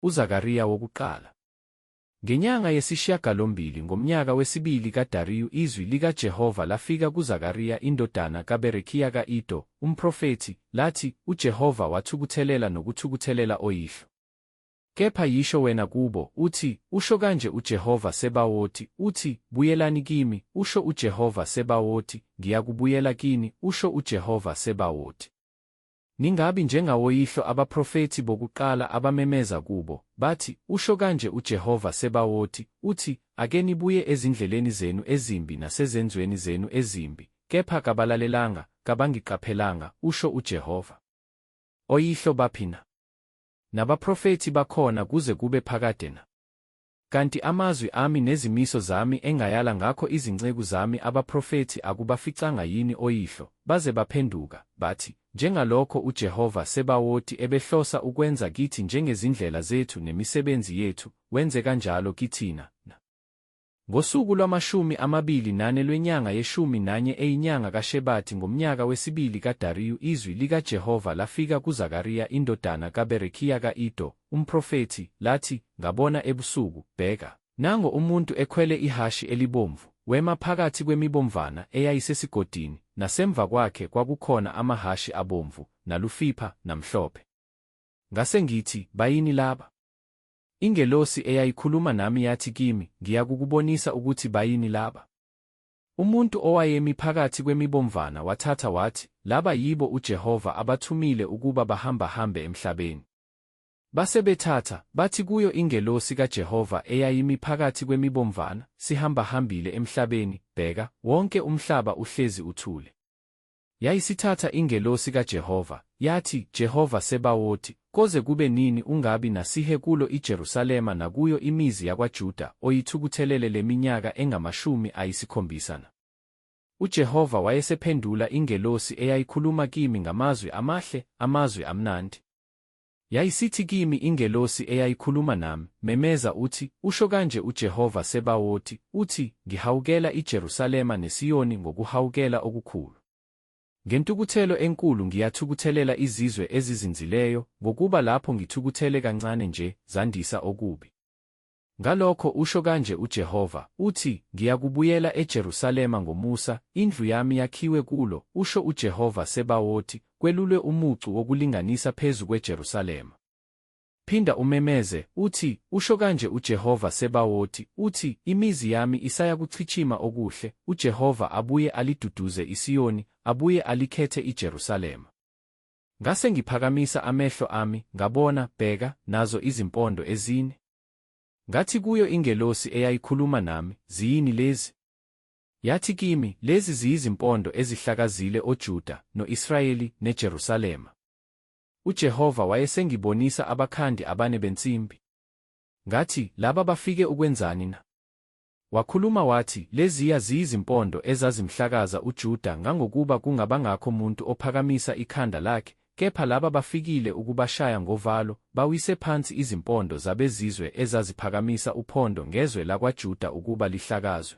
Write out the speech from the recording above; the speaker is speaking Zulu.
UZakariya wokuqala. Ngenyanga yesishiyagalombili ngomnyaka wesibili kaDariyu izwi likaJehova lafika kuZakariya indodana kaBerekiya ka-Ido, umprofethi, lathi, UJehova wathukuthelela nokuthukuthelela oyihlo. Kepha yisho wena kubo, uthi, Usho kanje uJehova Sebawoti, uthi, Buyelani kimi, usho uJehova Sebawoti, ngiyakubuyela kini, usho uJehova Sebawoti. Ningabi njengawoyihlo abaprofethi bokuqala abamemeza kubo, bathi, Usho kanje uJehova Sebawoti, uthi, Ake nibuye ezindleleni zenu ezimbi nasezenzweni zenu ezimbi, kepha kabalalelanga, kabangiqaphelanga, usho uJehova. Oyihlo baphi na? nabaprofethi bakhona kuze kube phakade na. Kanti amazwi ami nezimiso zami engayala ngakho izinceku zami abaprofethi akubaficanga yini oyihlo, baze baphenduka, bathi, Njengalokho uJehova Sebawoti ebehlosa ukwenza kithi njengezindlela zethu nemisebenzi yethu, wenze kanjalo kithina na? Ngosuku lwamashumi amabili nane lwenyanga yeshumi nanye eyinyanga kaShebathi ngomnyaka wesibili kaDariyu izwi likaJehova lafika kuZakariya indodana kaBerekiya ka-Ido, umprofethi, lathi, Ngabona ebusuku, bheka, nango umuntu ekhwele ihhashi elibomvu, wema phakathi kwemibomvana eyayisesigodini, nasemva kwakhe kwakukhona amahhashi abomvu, nalufipha, namhlophe. Ngase ngithi, Bayini laba? Ingelosi eyayikhuluma nami yathi kimi, Ngiyakukubonisa ukuthi bayini laba. Umuntu owayemi phakathi kwemibomvana wathatha wathi, Laba yibo uJehova abathumile ukuba bahambahambe emhlabeni. Base bethatha, bathi kuyo ingelosi kaJehova eyayimi phakathi kwemibomvana, Sihambahambile emhlabeni, bheka, wonke umhlaba uhlezi uthule. Yayisithatha ingelosi kaJehova, yathi, Jehova Sebawoti, koze kube nini ungabi nasihe kulo iJerusalema nakuyo imizi yakwaJuda oyithukuthelele le minyaka engamashumi ayisikhombisa na? UJehova wayesephendula ingelosi eyayikhuluma kimi ngamazwi amahle, amazwi amnandi. Yayisithi kimi ingelosi eyayikhuluma nami, Memeza uthi, Usho kanje uJehova Sebawoti, uthi, Ngihawukela iJerusalema neSiyoni ngokuhawukela okukhulu. Ngentukuthelo enkulu ngiyathukuthelela izizwe ezizinzileyo, ngokuba lapho ngithukuthele kancane nje, zandisa okubi. Ngalokho usho kanje uJehova, uthi, Ngiyakubuyela eJerusalema ngomusa, indlu yami yakhiwe kulo, usho uJehova Sebawoti, kwelulwe umucu wokulinganisa phezu kweJerusalema. Phinda umemeze, uthi, Usho kanje uJehova Sebawoti, uthi, Imizi yami isayakuchitshima okuhle, uJehova abuye aliduduze iSiyoni, abuye alikhethe iJerusalema. Ngase ngiphakamisa amehlo ami, ngabona, bheka, nazo izimpondo ezine. Ngathi kuyo ingelosi eyayikhuluma nami, Ziyini lezi? Yathi kimi, Lezi ziyizimpondo ezihlakazile oJuda, no-Israyeli, neJerusalema. UJehova wayesengibonisa abakhandi abane bensimbi. Ngathi, Laba bafike ukwenzani na? Wakhuluma wathi, Leziya ziyizimpondo ezazimhlakaza uJuda ngangokuba kungabangakho muntu ophakamisa ikhanda lakhe, kepha laba bafikile ukubashaya ngovalo, bawise phansi izimpondo zabezizwe ezaziphakamisa uphondo ngezwe lakwaJuda ukuba lihlakazwe.